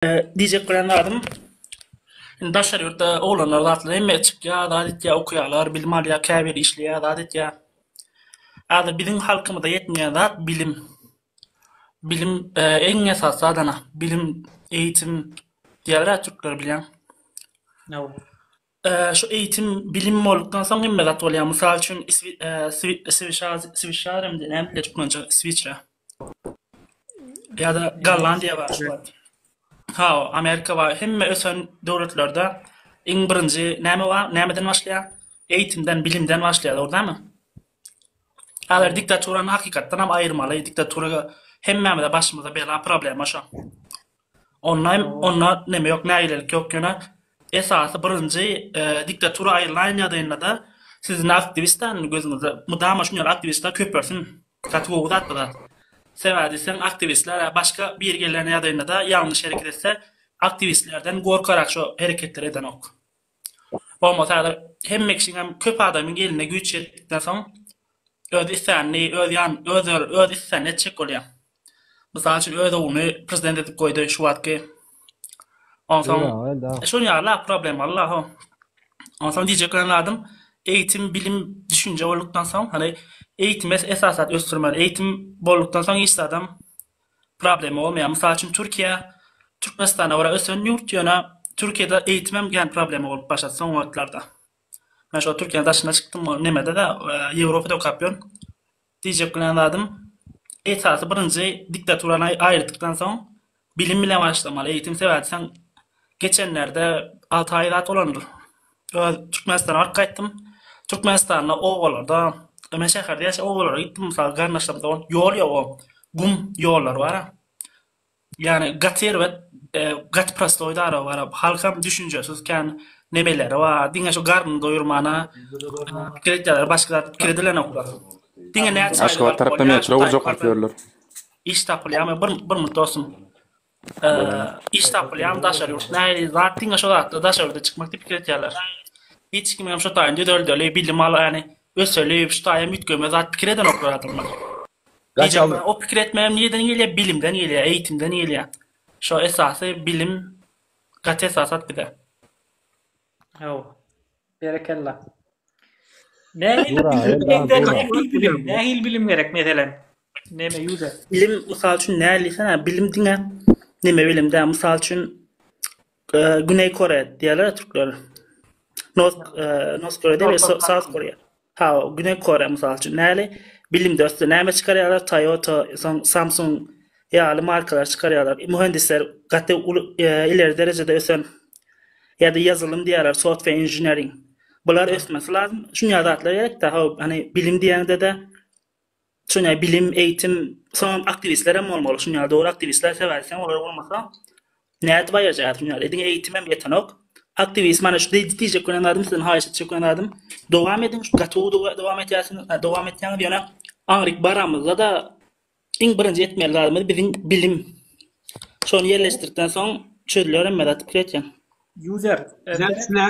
Diýjek bilen zadym Indi daşary ýurtda oglanlar zatlar hemme çykýar, zat etýär, okaýarlar, bilim alýar, käbiri işleýär, zat etýär. Häzir biziň halkymyza ýetmeýän zat bilim. Bilim iň esasy zadana, bilim, eýitim diýerler türkler bilýäň. Şu eýitim, bilim boldukdan soň hemme zat bolýar. Mysal üçin, swişar hem-de näme diýilýär türkmençe, switra. Ýa-da Gollandiýa bar şu wagt. Haw, Amerika bar. Hemme ösen döwletlerde iň birinji näme bar? Nämeden başlaýar? Eýitimden, bilimden başlaýar, dogrydanmy? Häzir diktaturany hakykatdan hem aýyrmaly. Diktatura hemmämize başymyza bela, problema şo. Onlaýn onda neme ýok nägilelik ýok ýöne esasy birinji diktatura aýrylaýan ýagdaýyndada siz indi aktiwist däl indi gözüňizde mydama şuny ýaly aktiwistler köpelsin gaty gowy zat bu zat sebäbi diýseň aktiwistler ýa başga biri gelýän ýagdaýyndada ýalňyş hereket etse aktiwistlerden gorkarak şo hereketleri edenok. Bolmasa häzir hemme kişiňem köp adamyň eline güýç ýetdikden soň öz islänini öz ýan öz öz islänini etjek bolýa. Mysal üçin öz ogluny prezident edip goýdy şu wagtky. Onsoň şol ýaly problemalar bar. Onsoň diýjek bolan zadym eýitim bilim düşünje boldukdan soň hany eýitime esasat ösdürmeli. Eýitim boldukdan soň hiç zadam Problema bolmaýar. Mysal üçin Türkiýe Türkmenistana görä ösen ýurt, ýöne Türkiýede eýitimem gen problema bolup başlady soňky wagtlarda. Men şo Türkiýäniň daşyna çykdym o nemede-de Ýewropada okap ýörün. Diýjek bilen zadym esasy birinji diktaturany aýyrtdykdan soň bilim bilen başlamaly eýitim sebäbi sen Geçenlerde alty aý zat bolandyr. Öz Türkmenistana baryp gaýtdym. Türkmenistanda obalarda, men şäherde ýaşap obalara gitdim, mysal garyndaşlarym dogan, ýol ýok o. Gum ýollar bara. Ýani gaty erbet, gaty prostoý dara bara. Halkam düşünjesiz kän nemeleri bar. Diňe şu garnyny doýurmana pikir etýärler, başga zat pikir edilenoklar. Diňe näçe aýlyk Aşgabat alyp tarapda bolýar, metro gurjak diýip ýörler. iş tapylýarmy? Bir bir mut dostum. iş tapylýan daşary ýurt nähili zat diňe şo zatda daşary ýurda çykmak diýip pikir etýärler. Hiç kim hem şu taýyn düzeldeli, bilim al, ýani öseli, şu taýam üýtgeme zat pikir edenoklar adamlar. Gaçaldy. O pikir etmegem nireden gelýär? Bilimden gelýär, eýitimden gelýär. Şo esasy bilim gaty esasat bize. Haw. Berekella. Nähili bilim gerek meselem? Näme ýüze? Bilim mysal üçin näme diýsen, bilim diňe näme bilim däl. Mysal üçin Güneý Koreýa diýerler türkler. North North Koreýa diýip, South Koreýa. Hawa, Güney Koreýa mysal üçin näli? Bilimde ösdi, näme çykarýarlar? Toyota, soň Samsung ýaly markalary çykarýarlar. Mühendisler gaty uly, ileri derejede ösen. Ýa-da ýazylym diýýärler, software engineering. Bular ösmesi lazym. Şunýa zatlar gerek-dä. Hawa, hany bilim diýende-de Şonda bilim, eýitim, soňam aktiwistler hem bolmaly şunuň ýaly dogry aktiwistler sebäpsiň olar bolmasa nädip aýyrjaýar şunuň ýaly ediň eýitim hem ýetenok aktiwist mana şu diýjek bolan zadym sizden haýyş etjek bolan zadym dowam ediň şu gaty gowy dowam etýärsiň dowam etýäňiz ýöne aňryk baramyzda-da iň birinji etmeli zadymyz biziň bilim şony ýerleşdirdikden soň çözüler hemme zat pikir etýän. User.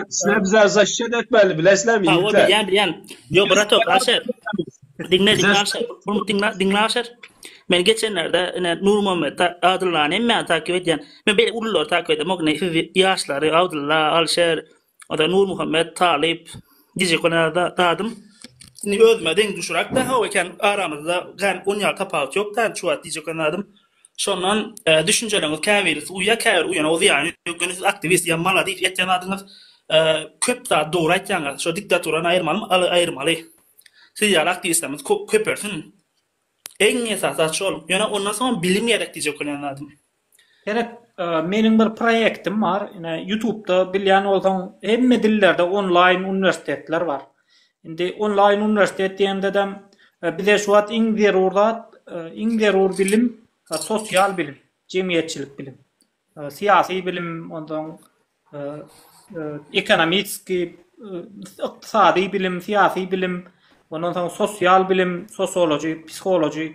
Sizler bize zaşşet etmeli bilesizler mi? Ýa bilýän bilýän. Ýok bratok aşer. Diňle diňle aşer. Bunu diňle diňle aşer. Men geçenlerde ine Nurmuhammet Adyllany hem men takip edýän. Men beýle ululary takip edýän. Ýok ne siz ýaşlary Abdylla, Alşer, oda Nurmuhammet, Talyp, Gije kona da dadym. Indi özüme deň düşürak da hawa eken aramyzda gan on ýa tapawut ýok da şu wagt Gije kona dadym. Şondan düşünjeleňiz käbirisi uýa käbir uýana zyýany ýok ýöne siz aktiwist ýa maladis etýän zadyňyz köp zat dogry aýtýaňyz şo diktaturany aýyrmalymy aly aýyrmaly siz ýaly aktiwistlerimiz köpelsin eň esasy zat şol ýöne ondan soňam bilim gerek diýjek bolýan zadym. Seret meniň bir proýektim bar ine ýutubda bilýän bolsaň hemme dillerde onlaýn uniwersitetler bar Indi onlaýn uniwersitet diýendedem bize şu wagt iň zerur zat, iň zerur bilim sosial bilim, jemgyýetçilik bilim. Syýasy bilim, onsoň ekonomiski, ykdysady bilim, syýasy bilim, ondan soň sosial bilim, sosiology, psihology,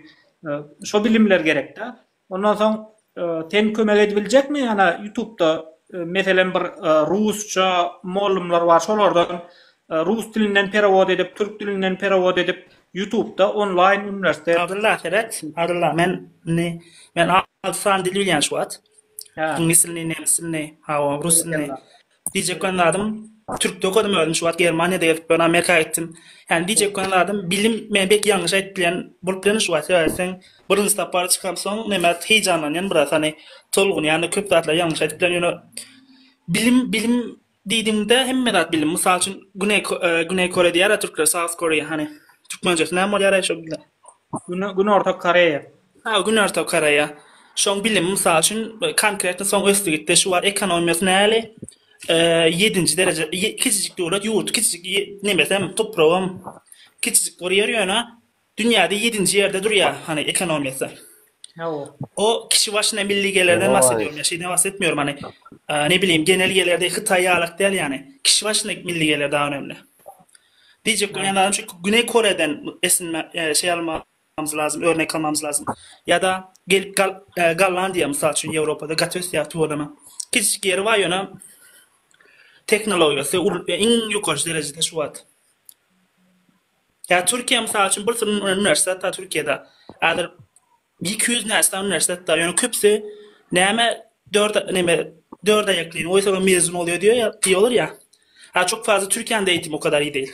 şo bilimler gerek-dä. Ondan soň sen kömek edibiljekmi ana ýutubda meselem bir rusça mollumlar bar şolardan rus dilinden perewod edip türk dilinden perewod edip ýutubda onlaýn uniwersitet. Abdylla seret Abdylla men indi men altysany dil bilýän şu wagt. Ingliz dilini nemis dilini hawa rus dilini Diýjek bolan zadym, türkde okadym özüm, şu wagt Germaniýada gezip ýörün, Amerika gitdim. Ýani diýjek bolan zadym, bilim, men belki ýalňyş aýdyp bilýän bolup bilerin şu wagt, sebäbi birinji sapar çykamsoň, näme heýjanlanýan biraz, hany tolgunýan-da, köp zatlary ýalňyş aýdyp bilerin, ýöne bilim, bilim diýdigiňde hemme zat bilim. Mysal üçin, Güneý Güneý Koreýa diýýär-ä türkler, South Korea, hany türkmençesi näme bolýar-aý şo bilen? Günorta Koreýa. Hawa, günorta Koreýa. Şoň bilim, mysal üçin, konkretno soň ösdi gitdi. Şu wagt ekonomiýasy näli? Ýedinji dereje, kiçijik döwlet, ýurt kiçijik, nemesem, topragam kiçijik bir ýer ýöne dünýäde ýedinji ýerde durýar, hany, ekonomiýasy. Hawa. O kişi başyna milli gelirden bahs edýärin, şeýden bahs etmeýärin, hany, ne bilim, genel gelirde Hytaý ýalak däl, ýani, kişi başyna milli gelir dagy önemli. Diýjek bolýan zadym şu, Güneý Koreýadan esinme, şeý alma, Mamys lazym, örnek almamys lazym. Ýa-da gelip gal, e, Gollandiýa mysal üçin Ýewropada gaty ösýär tuweleme. Kiçijik ýeri bar ýöne tehnologiýasy ul- e, iň ýokary derejede şu wagt. Ýa Türkiýe mysal üçin bir sürü uni- uniwersitet bar Türkiýede. Häzir 200 näçe sany uniwersitet bar. Ýöne köpüsi näme dört näme dört aýaklyny goýsaň mezun bolýar diýýär diýýärler ýa. Ha çok fazla Türkiýäniň de eýitimi o kadar iyi değil.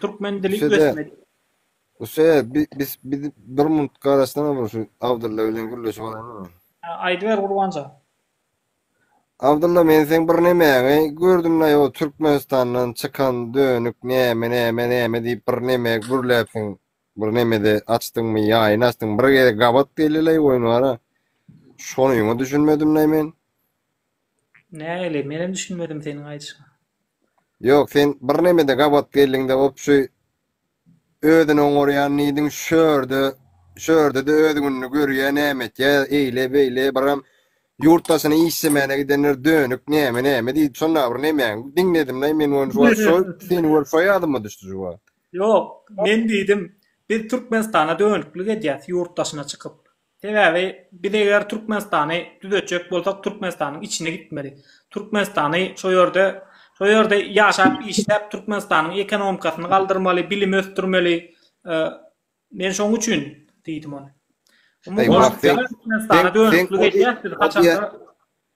Türkmen dili ösmeli. Ose biz biz bir minut garaşsana bir şu Abdylla bilen gürleşip alalım. Aýdyber Gurbanjan. Abdylla men sen bir nemäňi gördüm la o Türkmenistandan çykan dönük näme näme näme diýip bir näme gürläpsiň. Bir näme-de açdyňmy, ýaýyny açdyň. Bir ýere gabat geldi la oýun wara. Şonuňa düşünmedim la men. Nähili? Menem düşünmedim seniň aýdyşyňa. Ýok, sen bir nemede gabat geldiňde op şu özüni oňarýan nidiň şörde, şördede öz gününi görýä näme etýä eýle beýle biram ýurt daşyna işlemäne gidenler dönük näme näme diýip şonda bir nemäň diňledimlaý men ony şu wagt şol seni görüp şo ýadyma düşdi şu wagt. Ýok, men diýdim biz Türkmenistana dönüklik edýäs ýurt daşyna çykyp. Sebäbi biz eger Türkmenistany düzetjek bolsak Türkmenistanyň içine gitmeli. Türkmenistany şo ýerde şo ýerde ýaşap işläp Türkmenistanyň ekonomikasyny galdyrmaly, bilimi ösdürmeli. Men şoň üçin diýdim ony.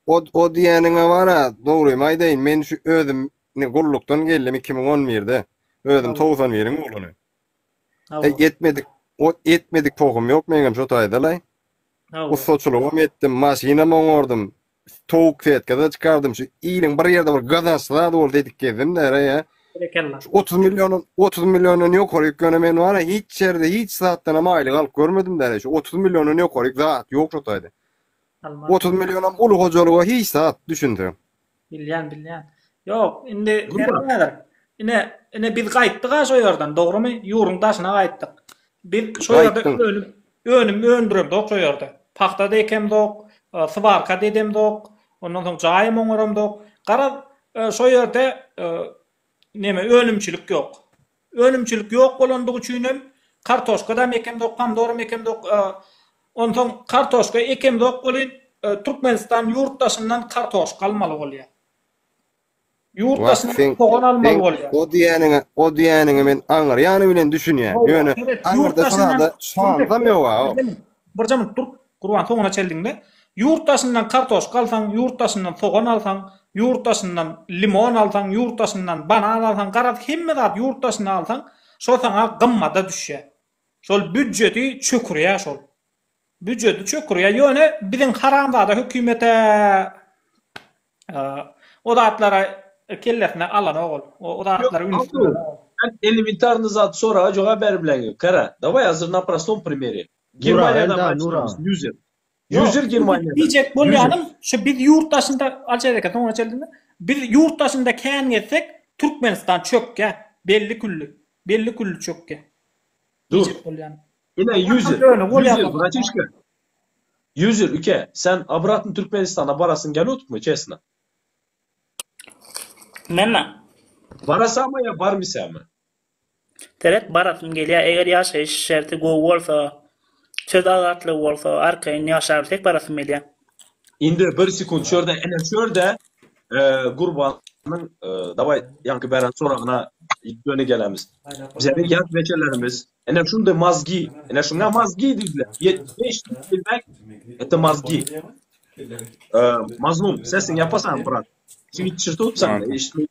O diýeniňe wara dogrymy aýdaýyn men şu özüm gullukdan geldim iki müň on birde özüm togsan biriň ogluny. E, etmedik, o etmedik pohum yok meňem şu taýdalay. Ustaçylygym etdim, maşynam oňardym. Towuk fetkada çykardım. Şu iliň bir ýerde bir gazanç zat bol dedik gezdim nere ya. 30 milyonun 30 milyonun ýokary ýöne men wara hiç ýerde hiç zatdan hem aýlyk alyp görmedim däre şu 30 milyonun ýokary zat ýok şu taýda. 30 milyonam uly hojalyga hiç zat düşünse. Bilýän, bilýän. Ýok, indi näder? Ine, ine biz gaýtdyk-a şo ýerden, dogrumy? Ýurduň daşyna gaýtdyk. Biz şo ýerde önüm, önüm öndüremzok şo ýerde. Pagta-da ekemzok, swarka-da edemzok, ondan soň jaýam oňaramzok. Garaz, şo ýerde neme, önümçilik ýok. Önümçilik ýok bolandygy üçin hem kartoşkadam ekemzok, pomdoram ekemzok. Onsoň kartoşka ekemzok welin, Türkmenistan ýurt daşyndan kartoşka almaly bolýar. Ýurt daşyndan sogan almaly bolýar. Wah, sen o diýýäniňe, o diýýäniňe men aňryýany bilen düşünýän. Ýöne aňyrda şaly, şaly-da ýok-a. Birje minut dur. Gurban soňuna çel diňle. Ýurt daşyndan kartoşka alsaň, ýurt daşyndan sogan alsaň, ýurt daşyndan limon alsaň, ýurt daşyndan banan alsaň, garaz hemme zat ýurt daşyndan alsaň, şo saňa gymmada düşýä. Şol býudjeti çökürýä şol. Býudjeti çökürýä. Ýöne biziň haramzada hökümete o zatlary kellesine alanok ol. O zatlary üns berenok ol. Elementarny zat soraga jogap berip bilen ýok. Kara, daway azir na prostom primeri. Germaniýada bar çykarmyş user. User Germaniýada. Diýjek bolýanym, şu biz ýurt daşynda Aljaz eke soňra çenli. Biz ýurt daşynda kän gezsek, Türkmenistan çökýär. Belli külli. Belli külli çökýär. Diýjek bolýanym. Ine user. User bratişka. User uke, sen obratny Türkmenistana barasyň gelýotmy çesna? Mena. Barasaňmy ýa barmysaňmy? Sebäp barasym gelýär eger ýaşaýyş şerti gowy bolsa söz azatlygy bolsa arkaýyn ýaşarys diýip barasym gelýär. Indi bir sekunt şurda ene şurda Gurbanyň dawaý ýaňky beren soragyna ýöne gelemis. Bizeniň ýaş beçelerimiz ene şunday mazgi ene şuňa mazgi diýdiler ýetmiş bäş ýüz ýyldan ete mazgi Mazlum sesiň ýapasan brat şiit çyr tutsaň eşitmeýär.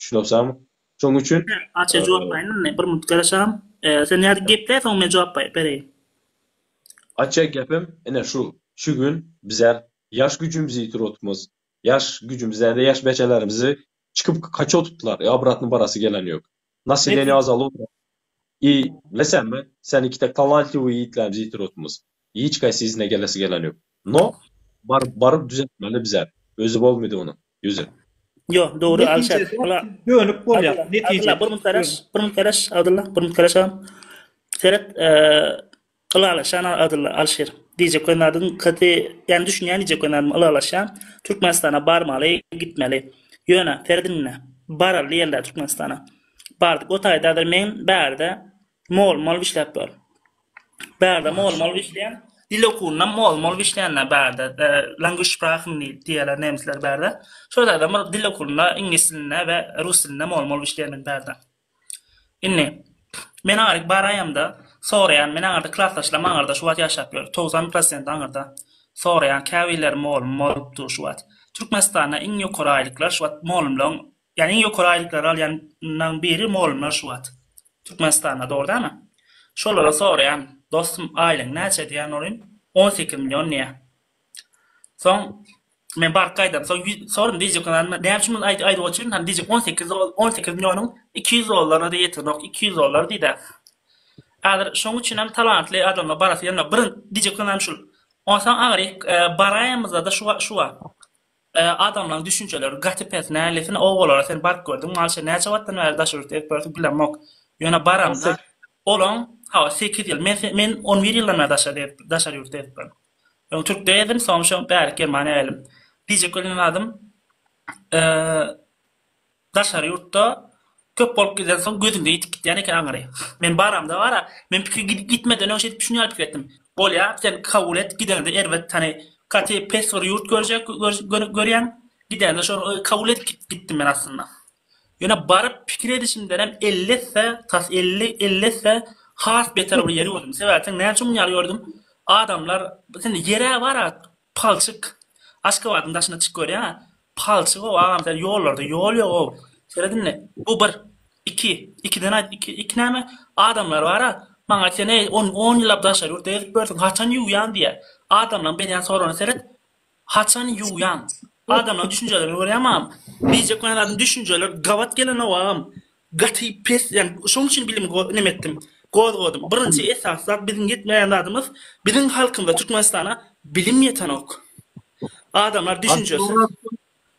Düşünersem, şoň üçin. Hä, Aşa jogap baýyn indi, bir minut garaşam. Sen ýa-da geple, soň men jogap baýyp bereýin. Aşa gepim ine şu, şu gün bizem ýaş güjümizi ýitirip otupmyz. Ýaş güjümiz däl-de, ýaş bejelerimizi çykyp kaçyp otupdylar, ýa obratny barasy gelen ýok. Nasileniýe azalyp otyr. I, Bilesäňmi, sen ikide talantliwy ýitläp ýitir otmyz. Hiç gaýsy yzyna gelesi gelen ýok. No, baryp, baryp düzeltmeli bizem. Özi bolmydy onuň. Özi. Ýo, dogry, Alşat. Ala. Dönük bolýar. Netijede. Abdylla, bir minut garaş. Bir minut garaş, Abdylla. Bir minut garaş agam. Seret, e. Ylalaşan adylla Alşir. Diýjek we nadym kty ýany düşünýän diýjek we nadym ylalaşýan Türkmenistana barmaly gitmeli. Ýöne, Ferdinne, baral diýelde Türkmenistana. Bardyk o taýda adyr men bärde mol mol işläp bar. Bärde mol mol işleýän dil okuwynda mol mol işleýänler bärde language sprachen diýýärler nemisler bärde. Şol taýda bir dil okuwynda iňlis dilinde we rus dilinde mol mol işleýän men bärde. Indi, men aňryk baraýamda, soraýan, men aňyrda klasdaşlarym aňyrda şu wagt ýaşap ýör, togsan prosenti aňyrda. Soraýan, käbirleri molum bolup dur şu wagt. Türkmenistanda iň ýokary aýlyklar şu wagt molumlaryň, ýagny iň ýokary aýlyklary alýanlaryň biri molumlar şu wagt. Türkmenistanda, dogry dälmi? Şolara soraýan, dostum, aýlygyň näçe diýen bolýan, on sekiz million diýýär. Soň, Men baryp gaýdam. Soň sorum DJ kanal näme üçin muny aýdyp aýdyp otyryň? Hany DJ 18 18 millionyň 200 dollara da ýetenok. 200 dollar diýdä. Häzir şoň üçin hem talantly adamlar barasy gelmä. Birin DJ kanal şul. Onsoň agry baraýmyzda da şu şu wa. Adamlaryň düşünjeleri gaty pes nälesin owalara sen baryp gördüň malşe näçe wagtdan bäri daş ürti edip görse gülemok. Ýöne baramda olaň hawa 8 ýyl men men 11 ýyldan bäri daşary daşary ýurtda edipdim. Öň türk däldim soň şo bärik germaniýa geldim. Pije kölünden adym daşary ýurtda köp bolup giden soň gözüňde ýitip gitýän eken aňyry. Men baramda bara men pikir gidip gitmeden öň şeýdip düşünýär pikir etdim. Bolýa sen kabul et gideňde erbet hany kate pes bir ýurt görjek görýäň gideňde şony kabul edip gitdim men aslynda. Ýöne baryp pikir edişimdenem elli esse, tas elli, elli esse has beter bir ýeri gördüm. Sebäpsiň näme üçin muny ýaly gördüm? Adamlar indi ýer-ä bar-a, palçyk. Aşgabadyň daşyna çykyp görýän-ä, palçyg-ow, agam sen ýollarda ýol ýog-ow. Seret indi, bu bir. Iki, ikiden aýt, iki, iki näme? Adamlar bar-a, maňa aýtýan, eý, on, on ýyllap daşary ýurtda gezip ýörsiň, haçan ýuwýan diýýä. Adamlaryň berýän soragna seret, Haçan ýuwýaň? Adamlaň düşünjelerini görýäňmi agam? Diýjek bolan zadym düşünjeler gabat gelenok agam. Gaty pes ýagny şonuň üçin bilim neme etdim. Gozgadym. Birinji esasy zat biziň ýetmeýän zadymyz biziň halkymyza Türkmenistana bilim ýetenok. Adamlar düşünjesi.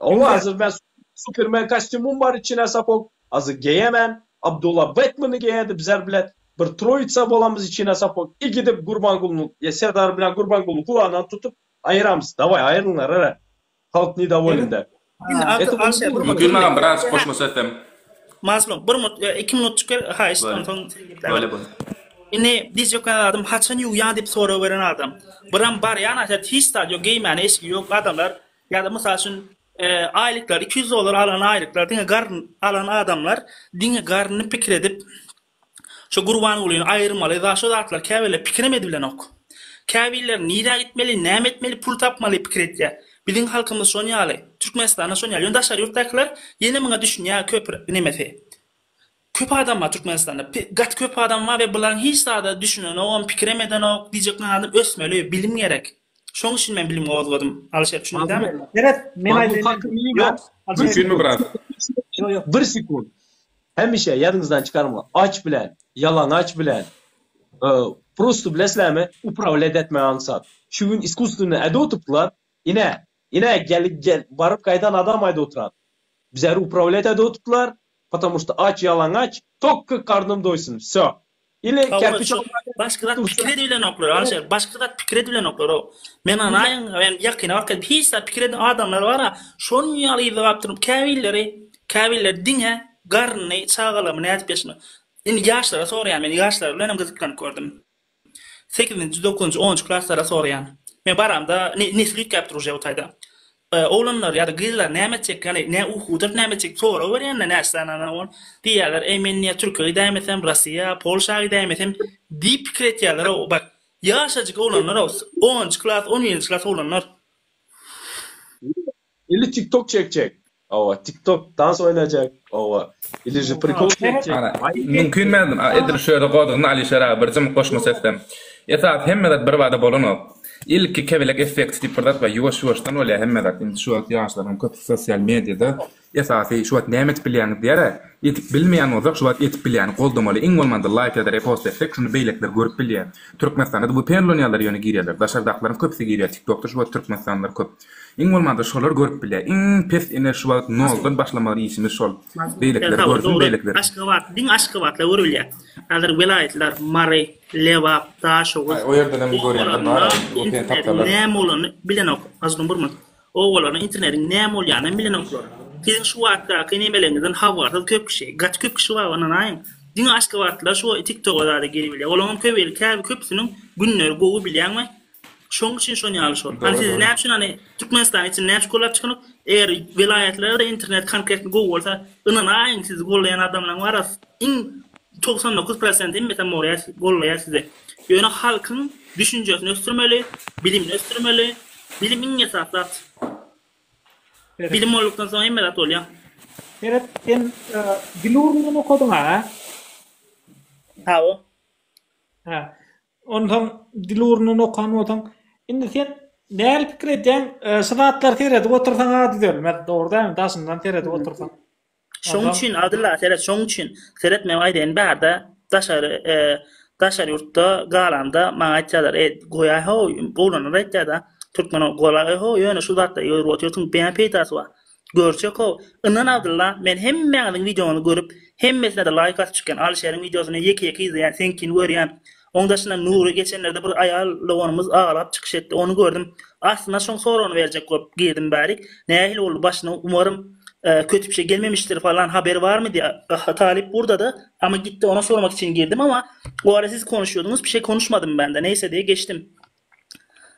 Hawa hazir men supermen kostýumym bar içine sapok azy geýemen Abdula Batmany geýedi bizar bilen bir troýitsa bolamyz içine sapok i gidip Gurbangulynyň ýa Serdar bilen Gurbangulyny gulagyndan tutup aýyramyz daway aýrylyňlar ara halk nidawolen däl. Mümkin maňa biraz goşma söz hem. Mazlum bir minut ýa iki minutjyk ber haýyşt onsoň Bolýa bolýa. Indi diz ýöken adam haçan ýuwýaň diýip sorag beren adam. Biram barýa naşa hiç zat ýok geýmäne eşigi ýok adamlar Ýa-da mysal üçin, aýlyklar, iki ýüz dollar alan aýlyklar diňe garyn alan adamlar diňe garyny pikir edip, şo Gurbangulyny aýyrmaly, za şo zatlar käbirler pikirem edibilenok. Käbirler nirä gitmeli, näme etmeli, pul tapmaly pikir edýär. Biziň halkymyz şon ýaly, Türkmenistanda şon ýaly. Ýöne daşary ýurtdakylar ýene muňa düşünýär köp nemesi. Köp adam bar Türkmenistanda gaty köp adam bar we bularyň hiç zada düşünenogam pikirem edenok diýjek men adam ösmeli bilim gerek şoň üçin men bilim gozgadym Alişer düşündin dämi. Seret men aýdaýyn. Bir sekunt hemişe ýadyňyzdan çykarma aç bilen ýalaňaç bilen prosto bileslämi upravlýat etmek aňsat şu gün iskusstwennä ädotuplar Ine, ine, gel, gel, baryp gaýdan adam aýda oturan. Bizäri uprawlýat aýda oturtdylar, Потому što aç, ýalaňaç, tolko karnım doýsun, vsё. Ili Tawwa, şu başky zat pikir edibilenoklar, Alişer, başky zat pikir edibilenoklar, o. Men anaýyn, men ýakyna wagt gelip hiç zat pikir eden adamlar bar-a, şonuň ýaly yza baryp durup, käbirleri, käbirleri diňe garnyny, çagalarymy nädip ýaşyna. Indi ýaşlara soraýan, men ýaşlar bilen hem gyzyklanyp gördüm. Sekizinji, dokuzynjy, onunjy klaslara soraýan. Men baramda ne slýutkäpdir uje bu taýda. Oglanlar ýa-da gyzlar näme etjek, ýagny nä ukudyr, näme etjek sorag berýände näçe sany ana bor, diýýärler, eý men ýa Türkiýä gidäýmesem, Rossiýa, Polşa gidäýmesem diýip pikir etýärler-ow. Bak, ýaşajyk oglanlar-ow, onunjy klas, on birinji klas oglanlar. Ili tik tok çekjek. Hawa tik tok dans oýnajak. Hawa. Iliji prikol çekjek. Mümkin mälim a edil şöyle godugyny Alişer aga bir jymy goşma sesden. Esasy hemme zat bir bada bolanok. Ilki kebelek effekti diýip bir zat bar ýuwaş ýuwaşdan bolýar hemme zat indi şu wagt ýaşlaryň köpüsi sosial mediada esasy şu wagt näme edip bilýäňiz diýärä edip bilmeýän bolsak şu wagt edip bilýäni goldamaly iň bolmanda laýk ýada repost etsek şuny beýlekiler görüp bilýär türkmenistanda vpn ulanýarlar ýöne girýärler daşardakylaryň köpüsi girýär tik tokda şu wagt türkmenistanlylar köp. Iň bolmanda şolar görüp bilýä iň pes ine şu wagt noldan başlamaly işimiz şol beýlekiler görsün beýlekiler. Aşgabat diň aşgabatla görülýä hazir welaýatlar Mary Lebap Daşoguz o ýerdenem görýänler bar öten tapsalar näme bolany bilenok azgyn burman owalarna internetiň näme bolýanam bilenoklar siziň şu wagtdaky nemeleňizden habarsyz köp kişi gaty köp kişi bar ynanaýyň diňe aşgabatlylar şu tiktoga zada girip bilýä olaňam köp el käbi köpüsiniň günleri gowy bilýäňmi Şoň üçin şon ýaly şol. Hany siz näme üçin hany Türkmenistanyň içinde näme üçin gollap çykynyp, eger welaýatlarda internet konkretno gowy bolsa, ynanaýyň sizi gollaýan adamlaň bara iň togsan dokuz prosent hemmesem bolýar gollaýar sizi. Ýöne halkyň düşünjesini ösdürmeli, bilimini ösdürmeli. Bilim iň esasy zat. Bilim boldukdan soň hemme zat bolýar. Seret sen dil ugruny okadyň-a? Hawa. Ha. Onsoň dil ugrundan okan bolsaň, indi sen nähili pikir edýäň? Şu zatlary seredip otursaň a düzelmez, dogry dälmi? Daşyndan seredip otursaň. Şoň üçin Abdylla seret, şoň üçin seretmegim aýdaýyn bärde daşary daşary ýurtda galanda maňa aýtýarlar, eý, goýaý how, oglanlar aýtýar-da, türkmen oglanlary, goýaý how, ýöne şu zatlary görüp otyrsyň, beýan peýdasy bar. Görçekow, Yndan Abdylla men hemmäňiziň wideoňyzy görüp, hemmesine-de laýk atyp çykýan, Alyşeriň wideosyny ýeke-ýeke izleýän, seňkini görýän. Oň daşyndan Nury geçenlerde bir aýal doganymyz aglap çykyş etdi, ony gördüm. Aslynda şoň soragyny berjek bolup girdim bärik, nähili boldy başyna umarym köti pişe gelmemişdir falan haberi barmy diýä talyp burdada ama gitdi ona sormak için girdim ama o ara siz konuşýodyňyz pişe konuşmadym bende neýse diýe geçdim.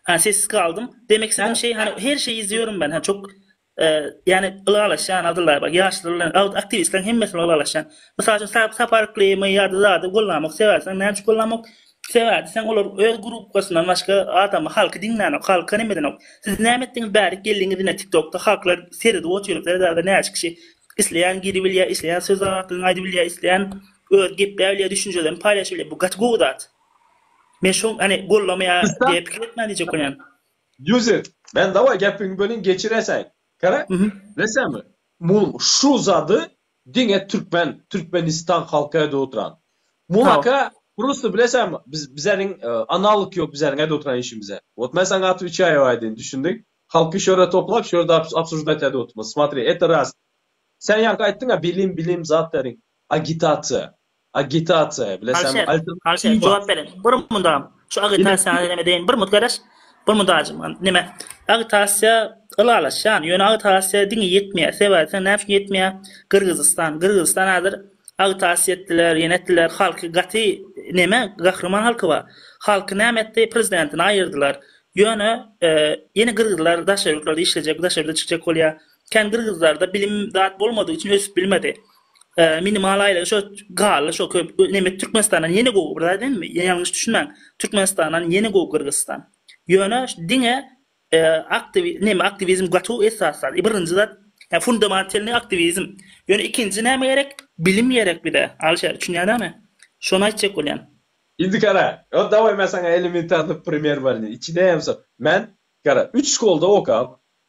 Ha sessiz galdym. Demek sen şeý hany her şeý izýorin ben ha çok yani ylalaşan adylla bak yaşlylar aktivistleriň hemmesini ylalaşan. Mysal üçin sap saparykly my ýa-da zady gollamok sebäbi sen näme üçin gollamok? Sebäbi sen olar öz grupkasyndan başga adamy halky diňlänok halka neme edenok. Siz näme etdiňiz bärik geldiňiz ine tiktokda halklar seredip otyryp serederde näçe kişi isleýän giribilýär isleýän söz aňsatlygyny aýdybilýär isleýän öz gepläbilýär düşünjelerini paýlaşybilýär bu gaty gowy zat. Men şoň hany gollamaýa diýip pikir etmän diýjek bolýan. Ýuzit, men dawaý gepiňi bölin geçiresäý. Gara, bilesemi, muň şu zady diňe türkmen, Türkmenistan halky aýdyp oturan. Muňaka prosta bilesemi, biz bizäniň analog ýok bizäniň aýdyp oturan işimize. Wot men saňa atyp içýäýow aýdyn, düşündiň? Halky şu ýere toplap, şu ýerde obsujdat aýdyp oturmaz. Smatri, et raz. Sen ýaňky aýtdyňa bilim, bilim, zat beriň. Agitasiýa. Agitasiýa, bilesäňmi, alternatiwa. Alşer, alşer, jogap beriň. Bir munda, şu agitasiýany neme deýin, bir mut garaş. Bir munda ajym, neme? Agitasiýa ylalaşýan, ýöne agitasiýa diňe ýetmeýär. Sebäbi sen näme üçin ýetmeýär? Gyrgyzystan, Gyrgyzystan häzir agitasiýa etdiler, ýene etdiler, halky gaty neme, gahryman halky bar. Halky näme etdi? Prezidentini aýyrdylar. Ýöne, ýene gyrgyzlar daşary ýurtlarda işlejek, daşary ýurda çykjak bolýar. Kän gyrgyzlarda bilim zat bolmadygy üçin ösüp bilmedi. Minimal aýlyk şo gally şo köp neme Türkmenistandan ýene gowy bir zat emme ýalňyş düşünmäň Türkmenistandan ýene gowy Gyrgyzystan. Ýöne diňe aktiwi neme aktiwizm gaty esas zat. Birinji zat ýa fundamentalny aktiwizm. Ýöne ikinji näme gerek? Bilim gerek bize. Alişer düşünýäň näme? Şony aýtjak bolýan. Indi gara, ýok dawaý men saňa elementarny primer berlin. Içine hem so men gara üç şkolda okap,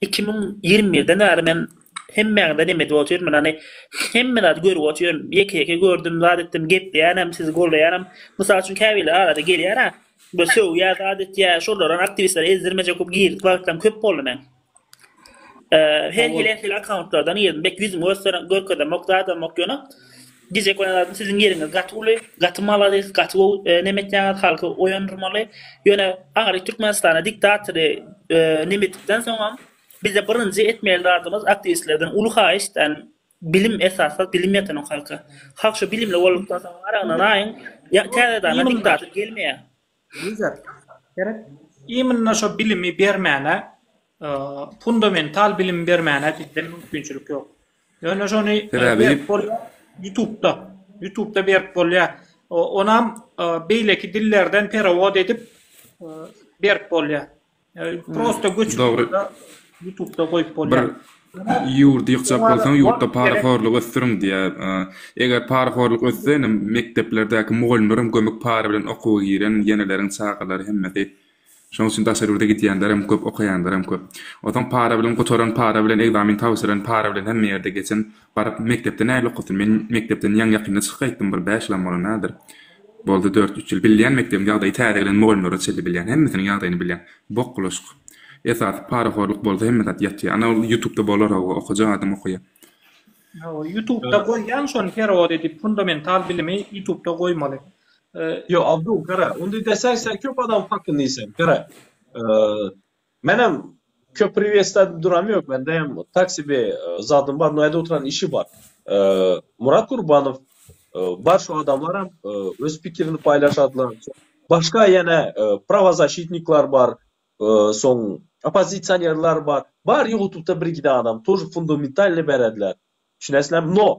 Iki müň ýigrimi birden bäri men hemmäňize dem edip otyrmyn, hany, hemme zady görüp otyryn, ýeke-ýeke gördüm, zat etdim, gepleýänem, sizi goldaýanam. Mysal üçin, käbirleri arada gelýär-ä, bir sögýär, zat etýär, şolaram aktiwistlere ezdirmejek bolup girdik wagtlaram köp boldy meň. Her hili-her hili akkauntlardan girdim, bek ýüzümi görkezemok, zadamok, ýöne Gije konan adam siziň ýeriňiz gaty uly, gaty maladis, gaty gowy neme etýäňiz halky oýandyrmaly, ýöne ahyry Türkmenistana diktatory neme etdikden soňam bize birinji etmeli zadymyz aktiwistlerden uly haýyşt yani bilim esasda bilim ýatanak halka, halk şu bilimli boldukdan soň aragyny naýyň, täze dana diktator gelmeýä. Gerek. Imенно şo bilimi bermäne, fundamental bilimi bermäne bizde mümkinçilik ýok. Ýöne şony berip bolýar, ýutubda, ýutubda berip bolýar. Onam beýleki dillerden perawod edip berip bolýar. Prosta göçüp gitmeli. Ýutubda goýup bolýar. Bir ýurdy ýykjak bolsaň, ýurtda parahorlygy ösdüriň diýýär. Eger parahorlyk össe, indi mekdeplerdäki mugallymlaram gömük para bilen okuwa giren, ýeneleriň çagalary hemmesi. Şonuň üçin daşary ýurda gidýänlerem köp, okaýanlaram köp. Onsoň para bilen gutaran, para bilen ekzamen tabşyran, para bilen hemme ýerde geçen Baryp, mekdepde nähili okasyn? Men mekdepden ýaňy ýakynda çykyp gaýtdym, bir bäş ýylam bolanädir. Boldy dört-üç ýyl. Bilýän, mekdebiň ýagdaýy täze gelen mugallymlara çenli bilýän. Hemmesiniň ýagdaýyny bilýän. Bok bulaşyk. Esasy parahorluk bolsa hemme zat ýatýar. Ana ol ýutubda bolar-ow, okajak adam okaýar. Hawa, ýutubda goýýan şony perewod edip, fundamental bilimi ýutubda goýmaly. Ýok, Abdul, gara, onda desek sen köp adam hakyny iýsen. Gara, Menem köp priwesda duram yok mende hem tak sebe zadym bar noýada oturan işi bar Murat Gurbanow bar şu adamlaram öz pikirini paýlaşadylar başga ýene prawazaşitniklar bar soň oppozisionerler bar bar ýutubda birgide adam tor fundamentalny berediler Düşünesizlämi? No.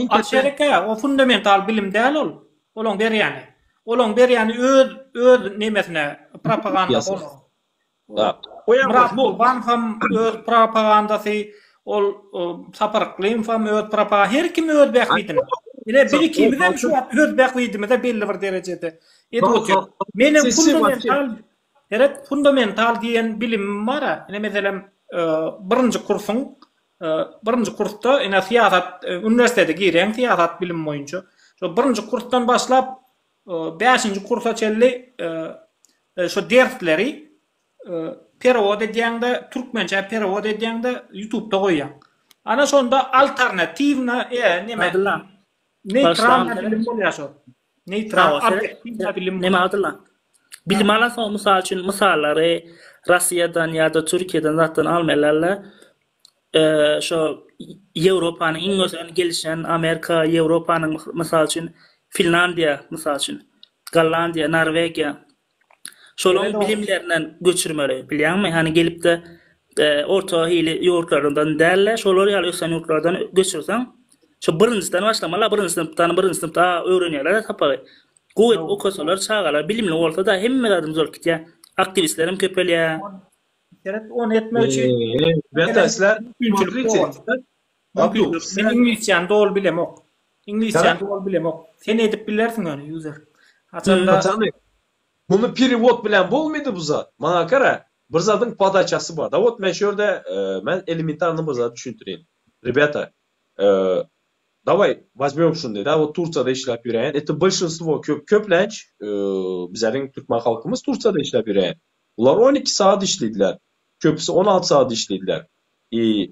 Aşerekä, o fundamental bilim däl ol. Olaň berýäni. Olaň berýäni öz, öz nemesine, propagandasy olaň. Myrat Gurban ham öz propagandasy, ol Sapar Yklymow hem öz propagandasy, her kim öz bähbidine. Ine, biz ikimiz hem şu wagt öz bähbidimize belli bir derejede edip oturýas. Meniň fundamental, seret, fundamental diýen bilimim bar-a. Ine, meselem, birinji kursuň. Birinji kursda ine syýasat uniwersitete girýäň syýasat bilimi boýunça. Şo birinji kursdan başlap bäşinji kursa çenli şo dersleri perewod edýäňde türkmençä perewod edýäňde ýutubda goýýaň. Ana şonda alternatiwna e neme. Neytral bilim bolýar şo. Näme Abdylla? Bilim alan soň mysal üçin mysallary Russiýadan ýa-da Türkiýeden zatdan almaýarlar-la. Şo Ýewropanyň iň ösen gelişen Amerika, Ýewropanyň mysal üçin Finlandiýa mysal üçin, Gollandiýa, Norwegiýa. Şolaň bilimlerinden göçürmeli, bilýäňmi? Hany gelip-de, orta hili ýurtlardan däl-de, şolar ýaly ösen ýurtlardan göçürseň, şo birinjiden başlamaly, birinji synpdan, birinji synpda öwrenýärler-ä sapagy. Gowy edip okasalar, çagalar bilimli bolsa-da, hemme zady düzelip gidýär. Aktiwistler hem köpelýär. Seret, ony etmek üçin, bäsdeşler, mümkinçilik dogýar. Abdu, men iňlisçäni doly bilemok. Iňlisçäni doly bilemok. Sen edip bilersiň ony, user. Haçanda. Muny perewod bilen bolmaýdy bu zat. Maňa gara, bir zadyň podaçasy bar-da. Wot men şu ýerde, men elementarnyý bir zat düşündireýin. Rebýata, dawaý, wazmýom şuny-da, wot Tursiýada işläp ýöräýen, eti bolşinstwo, köp, köplenç, bizleriň türkmen halkymyz Tursiýada işläp ýöräýen. Bular on iki sagat işleýdiler. Köpüsi on alty sagat işleýdiler. I,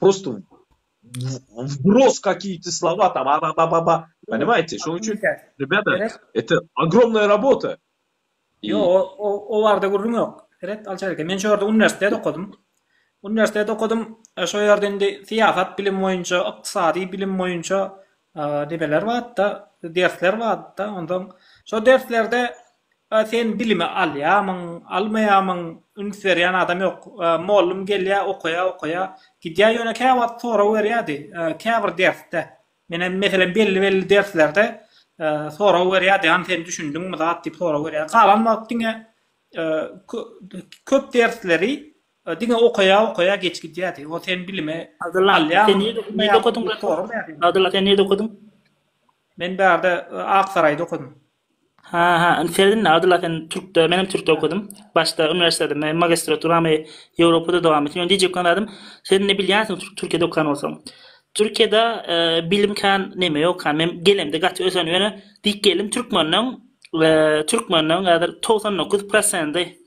Prosto wbros kakiti slova ta ba ba ba ba ba poнимajte şoň üçin rebeda ete ogromnaya rabota ýo o o barda gürrüň ýok ret alçaýarka men şo ýerde uniwersitet okadym uniwersitet okadym şo ýerde indi syýasat bilim boýunça ykdysady bilim boýunça nebeler barda dersler barda ondan şo derslerde A sen bilimi alýamyň, almaýamyň, üns berýän adam ýok. Mollum gelýä, okaýa, okaýa, gidýä, ýöne käwagt sorag berýädi, käbir dersde. Menem, meselem, belli-belli derslerde sorag berýädi, hany sen düşündiňmi zat diýip sorag berýädi. Galan wagt diňe köp dersleri diňe okaýa, okaýa geç gidýädi. O sen bilimi alýamyň, almaýamyň diýip soraýardy. Abdylla, sen nirde okadyň? Men bärde, Aksaraýda okadym. Ha ha indi seredinda Adyl sen türkde menem türkde okadym başda uniwersitetde me magistraturamy Ýewropada dowam etdim ýöne diýjek bolan zadym sen indi bilýänsiň türk türkiýede okan bolsaň türkiýede e, bilim kan neme ýok kan men gelemde gaty ösen ýöne diýip geldim türkmenden e, türkmenden häzir 99 prosenti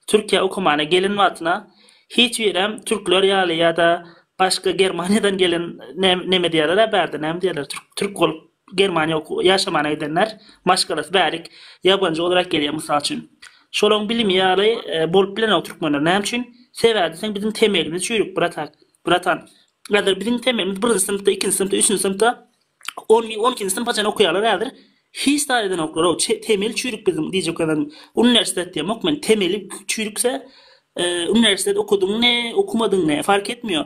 Türkiýe okumana gelen wagtyna hiç birem türkler ýaly ýa-da başga Germaniýadan gelen ne- neme diýerler bärde näme diýerler türk türk bolup Germaniýa ýaşamana gidenler maşgalasy bärik ýabanjy olarak gelýär mysal üçin. Şolaň bilimi ýaly bolup bilenok türkmenler näme üçin? Sebäbi sen biziň temelimiz çüýrük bratak, bratan. Häzir biziň temelimiz birinji synpda, ikinji synpda, üçünji synpda on on ikinji synpa çenli okaýarlar häzir. Hiç zat edenoklar-ow, temel çüýrük biziň diýjek adam. Uniwersitet diýemok men, temeli çüýrükse, uniwersitet okadyň ne, okumadyň ne, fark etmiýo.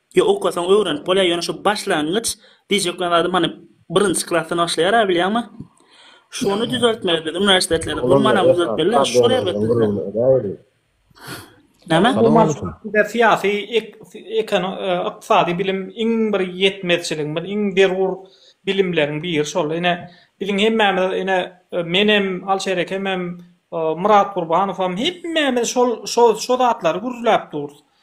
Ýa okasaň öwrenip bolýar ýöne şu başlangyç diýjek bolan zadym hany birinji klasdan başlaýara bilýäňmi? Şony düzeltmeli biz uniwersitetleri gurmanam düzeltmeli şol erbet bizde. Näme? Bizde syýasy ykdysady bilim iň bir ýetmezçiligimiz iň zerur bilimleriň biri şol ine biziň hemmämiz ine menem Alşer ekemem Myrat Gurbanow hem hemmämiz şol şo zatlary gürläp durus.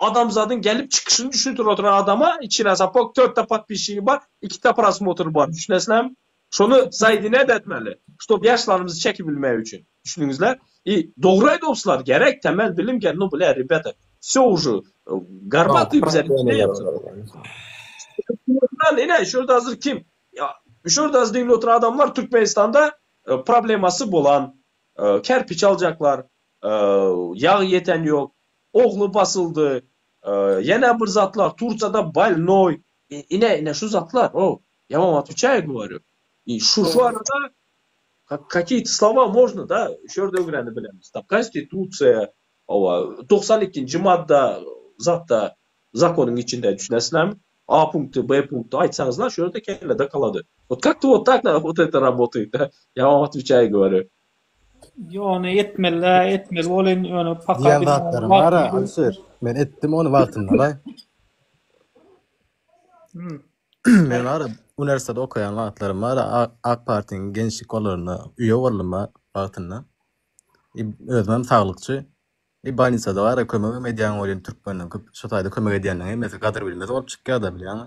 adamzadyň gelip çykyşyny düşündirip oturan adama içine sapok törtde podpişigi bar ikide prosmotr bar düşünesizlermi şony zaýdine de etmeli ştob ýaşlarymyzy çekip bilmek üçin düşündiňizler i dogry aýdypsylar gerek temel bilim gerek nu bile rebeta vsё uže garbaty bize ine şu ýerde hazir kim şu ýerde hazir diňlip oturan adamlar türkmenistanda problemasy bolan kerpiç aljaklar Ýagy ýeten ýok. Ogly basyldy. Ýene bir zatlar Turkiýada bolnoý. Ine, ine şu zatlar, o, ýaman wagt üçäýe gowaryp. I, şu, şu arada kakyýeti slova można, da, şu ýerde öwrenip bileris. Ta konstitusiýa, owa, togsan ikinji madda zatda, zakonyň içinde, düşünesizlermi? A punkty, B punkty aýtsaňyzlar, şu ýerde kellede kalady. Ot kak to ot tak na ot ete rabotaýt, ýaman wagt üçäýe gowaryp. Ýone etmeli-dä, etmeli bolyn, ýöne paka Diýen bilmän zatlarym wagtym bar-a, ýok. Alişir. Men etdim ony wagtynda laý. Hmm. Men bar-a, uniwersitet okaýan wagtlarym bar-a, A- Ak partiýanyň gençlik gollaryna üýe boldum bar wagtynda. I özümem saglykçy. I bolnisada bar-a kömegem edýän welin türkmenleň köp şu taýda kömek edýänleň hemmesi gadyr bilmez bolup çykýar-da bilýäňmi?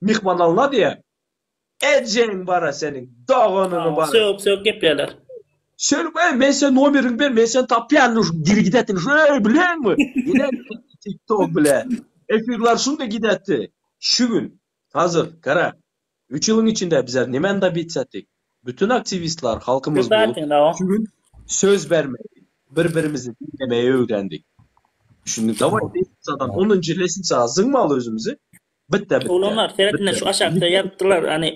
Myhman alna diýä. Ejeň bara seniň, doganyňy bara. Sögüp sögüp gepleýärler. Şerik öý men sen nomeriňi ber men seni tapýan şu diri gidätdin şu öý bileňmi ine tik tok bile efirler şunda gidätdi şu gün hazır gara üç ýylyň içinde bizler nemeni dobits etdik bütün aktiwistler halkymyz bolup şu gün söz bermegi bir birimizi diňlemegi öwrendik düşündiň daway lesisadan onunjy lesisaga zyňmaly özümizi Bitta bitta. Ulanlar seret ine şu aşakda ýazypdyrlar ane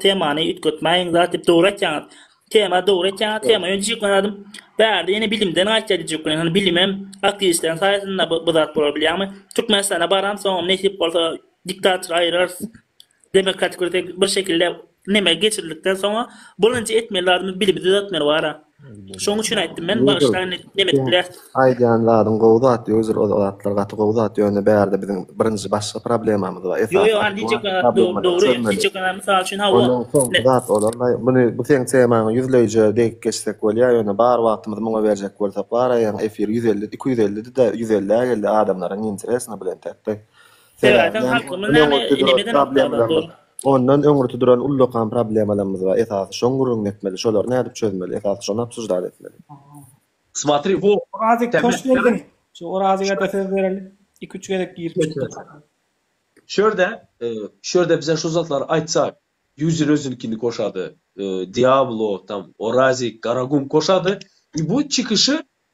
temany üýtgetmäýiň zat diýip dogry aýtýaňyz. Tema dogry aýtýaňyz tema öýdüp ýyklanadym. Bärde ýene bilimden gaýtýar diýjek welin hany bilimem aktiwistleriň saýasynda bu zat bolar bilýäňmi. Türkmenistana baran soňam nesip bolsa diktator aýyrarys. Demokratik bir şekilde Neme geçirdikden soňa bolanja etmeli zadymy bilimi düzeltmeli bara. Şoň üçin aýtdym men bagyşlaň neme edip biler. Aýdýan zadyň gowy zat özür ol zatlar gaty gowy zat ýöne bärde biziň birinji başga problemamyz bar. Ýok ýok andi hiç ekana dogry dogry hiç ekana mysal üçin hawa. Onuň soňky zat olanlaý muny bu seň temaňy ýüzleýje degip geçsek bolýar ýöne bar wagtymyzy muňa berjek bolsak baraýaň efir ýüz elli iki ýüz elli dide ýüz elli geldi adamlaryň interesna bilen täktäý. Sebäbi Sebäbi halkymyz ondan näme öňürti duran elemeden okdaglar problemlerimiz, dolup. ondan öňürti duran ullakan problemalarymyz bar. Esasy şoň gürrüňini etmeli, şolary nädip çözmeli, esasy şony obsujdat etmeli. Smatri wo. Orazyk toş berdiň. Şu Orazyga-da söz bereli. Iki-üç gezek girip çykdy. Şu ýerde, şu ýerde bize şu zatlary aýtsak, Ýuzer özünikini koşady, Diablo, tam, Orazyk, Garagum koşady. Bu çykyşy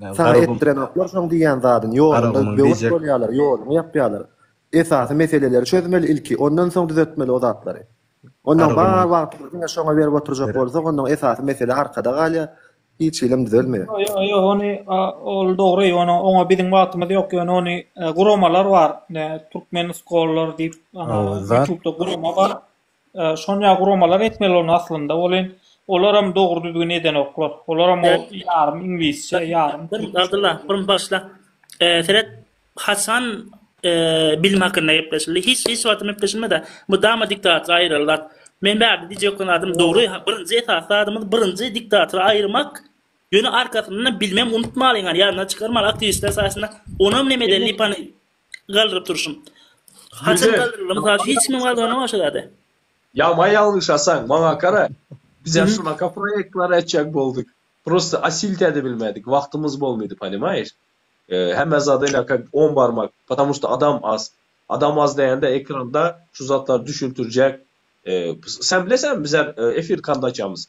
Saňa etdirenoklar şoň diýýän zadyny, ýolunda böwet bolýarlar, ýoluňy ýapýarlar. Esasy meseleleri çözmeli ilki, ondan soň düzetmeli o zatlary. Ondan bar wagtymyzy diňe şoňa berip oturjak bolsak, ondan esasy mesele arkada galýar, hiç hilem düzelmeýär. Ýok, ony ol dogry, ony oňa biziň wagtymyz ýok, ýöne ony guramalar bar, türkmen skollar diýip, ýutubda gurama bar. Şony ýa guramalar etmeli ony aslynda welin olaram dogry düzgün edenoklar olaram ol ýarym iňlisçe ýarym türkçe. Abdylla bir bagyşla seret haçan bilim hakynda gepleşildi hiç hiç wagtam gepleşilmeda mydama diktator aýyryldat men bärde diýjek bolan zadym dogry birinji esasy zadymyz birinji diktatory aýyrmak ýöne arkasyndanam bilimem unutmalyň ýadyňdan çykarmaly aktiwistler saýasynda onam nemeden lipany galdyryp durşum. Haçan galdyrylar? Mysal hiç kim galdyranyok şo zady. Ya ma yalňyşasaň maňa gara biz ya şunaka proyektler etjek boldyk prosta asilt edibilmedik wagtymyz bolmady panimaýiş hemme zada ilaka on barmak patamur şta adam az adam az degende ekranda şu zatlar düşültirjek sen bileseňmi bizler efir kanda açamyz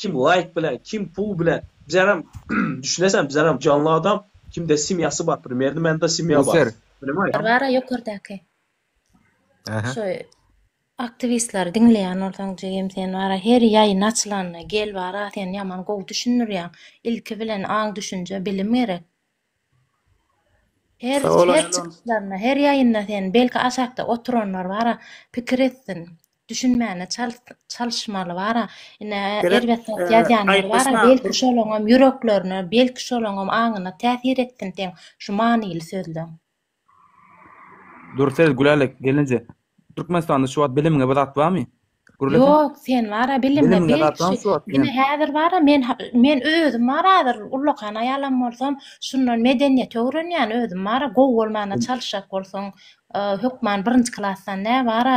Kim laýk bilen kim pul bilen bizaram düşüneseň bizaram janly adam kimde semýasy bar primerno mende semýa bar ponemay. Bara ýokardaky şo aktiwistleri diňleýän bolsaň jigim sen bara her ýaýyn açylanda gel bara sen ýaman gowy düşündirýäň ilki bilen aň düşünje bilim gerek Her çykyşlarynda, her ýaýynda sen, belki aşakda oturanlar bara pikir etsin, düşünmäne çalyşmaly bara, ine erbet zat ýazýanlar bara, belki şolaňam ýüreklerine, belki şolaňam aňyna täsir etsin seň şu manyly sözleň. Dursez Gülälek gelinje Türkmenistanda şu wagt bilimine bir zat barmy? Gürleseň. Ýok sen wara bilimine ine häzir wara men men özüm wara häzir ullakan aýalam bolsam şundan medeniýeti öwrenýän özüm wara gowy bolmana çalyşjak bolsaň hökman birinji klasdan nä wara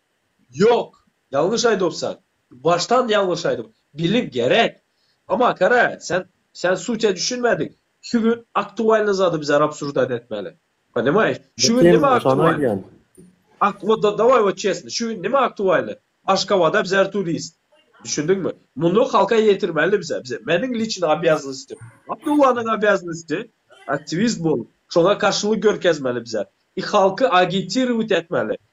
Ýok, ýalňyş aýdypsan. Başdan ýalňyş aýdyp. Biliň gerek. Ama kara, sen sen sutya düşünmediň. Şu gün aktualny zady bize rabsurdat etmeli. Ponimaýyş? Şu gün nime aktualny? Ak wod da daway wod çesni. Şu gün nime aktualny? Aşgabada bizer turist. Düşündiňmi? Muny halka ýetirmeli bize. Bize meniň liçni obýaznostim. Abdullanyň obýaznosti aktiwist bolup, şoňa garşylyk görkezmeli bize. I halky agitirowit etmeli.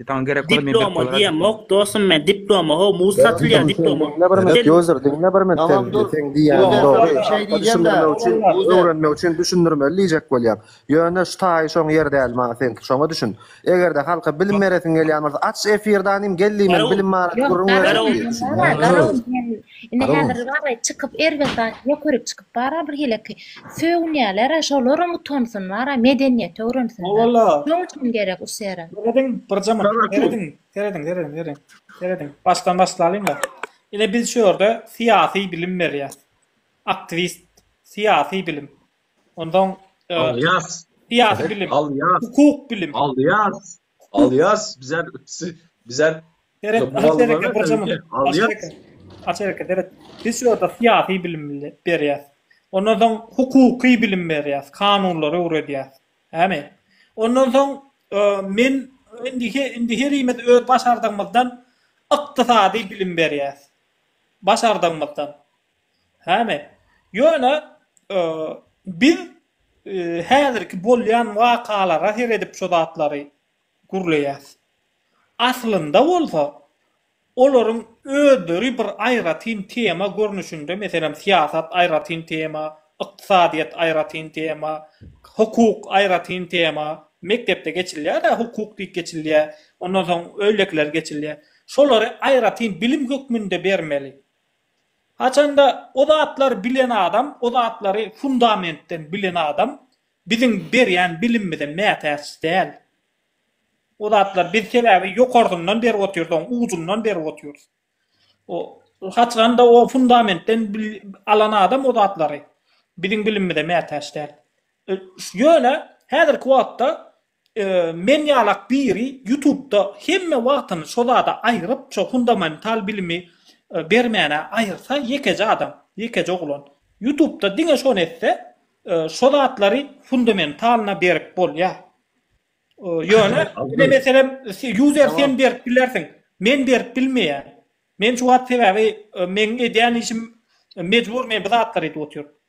Saňa gerek bolan men berip Diploma diýen mok dosum men diploma ho muz satylýar diploma. Diňle bir minut user diňle bir minut sen sen diýýäň dogry düşündirmek üçin öwrenmek üçin düşündirmeli diýjek bolýaň ýöne şu taýy şoň ýeri däl maňa seňki şoňa düşün egerde halka bilim beresiň gelýän bolsa aç efirde anym gel diýmeli bilim barada gürrüň bereli diýip düşün. Ine häzir bary çykyp erbet zat ýok ýörüp çykyp bara bir heleky sögünýälere şolaram utansyn bara medeniýeti öwrensinler şoň üçin gerek us ýere. Serediň bir jemyn serediň serediň serediň serediň başdan başlalyňda ine biz şu ýerde syýasy bilim berýäs aktiwist syýasy bilim onsoň syýasy bilim hukuk bilim aldýas Alýas bizä bizä Seret, aha sereke bir zaman. Sereke. A sereke seret. Biz şu ýerde syýasy bilim berýäs. Ondan soň hukuky bilim berýäs, kanunlary öwredýäs. Ämi? Ondan soň men indi indi herimiz öz başardygymyzdan ykdysady bilim berýäs. Başardygymyzdan. Hany, ýöne biz häzirki bolýan wakalara seredip şu zatlary gürleýäs. Aslynda bolsa, olaryň özleri bir aýratyn tema görnüşinde, meselem, syýasat aýratyn tema, ykdysadyýet aýratyn tema, hukuk aýratyn tema, mekdepde geçilýär-ä, hukuk diýip geçilýär, ondan soň öýlekiler geçilýär. Şolary aýratyn bilim hökmünde bermeli. Haçanda o zatlary bilen adam, o zatlary fundamentden bilen adam biziň berýän bilimimize mätäç däl. O zatlar biz sebäbi ýokarsyndan berip otyrys, oň ujundan berip otyrys. O haçanda o fundamentden alan adam o zatlary biziň bilimimize mätäç däl. Ýöne häzirki wagtda Men ýalak biri ýutubda hemme wagtyny şo zada aýyryp şo fundamental bilimi bermäne aýyrsa ýekeje adam ýekeje oglan ýutubda diňe şony etse şo zatlary fundamentalna berip bolýar ýöne ine meselem user sen berip bilersiň men berip bilmeýän men şu wagt sebäbi meň edýän işim mejbur men bu zatlary edip otyr.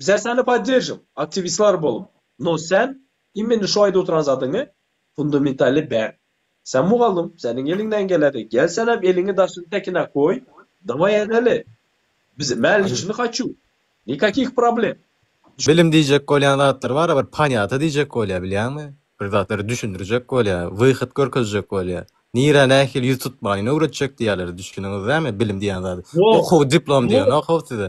Bizä seni poddержим, aktiwistlar bolup, no sen immeni şu aýda oturan zadyňy fundamentally ber. Sen mugallym, seniň eliňden geledi, gel senem eliňi daşyň tekine goý, daway edeli. Biz mäliçini haçu, nikakih problem. Bilim diýjek bolýan zatlar bara bir panyata diýjek bolýa bilýäňmi, bir zatlary düşündirjek bolýa, wyhyt görkezjek bolýa, nirä nähili ýüz tutmalyny öwretjek diýýäler, düşdüniňizdämi bilim diýýän zady, okuw diplom diýen okuw size.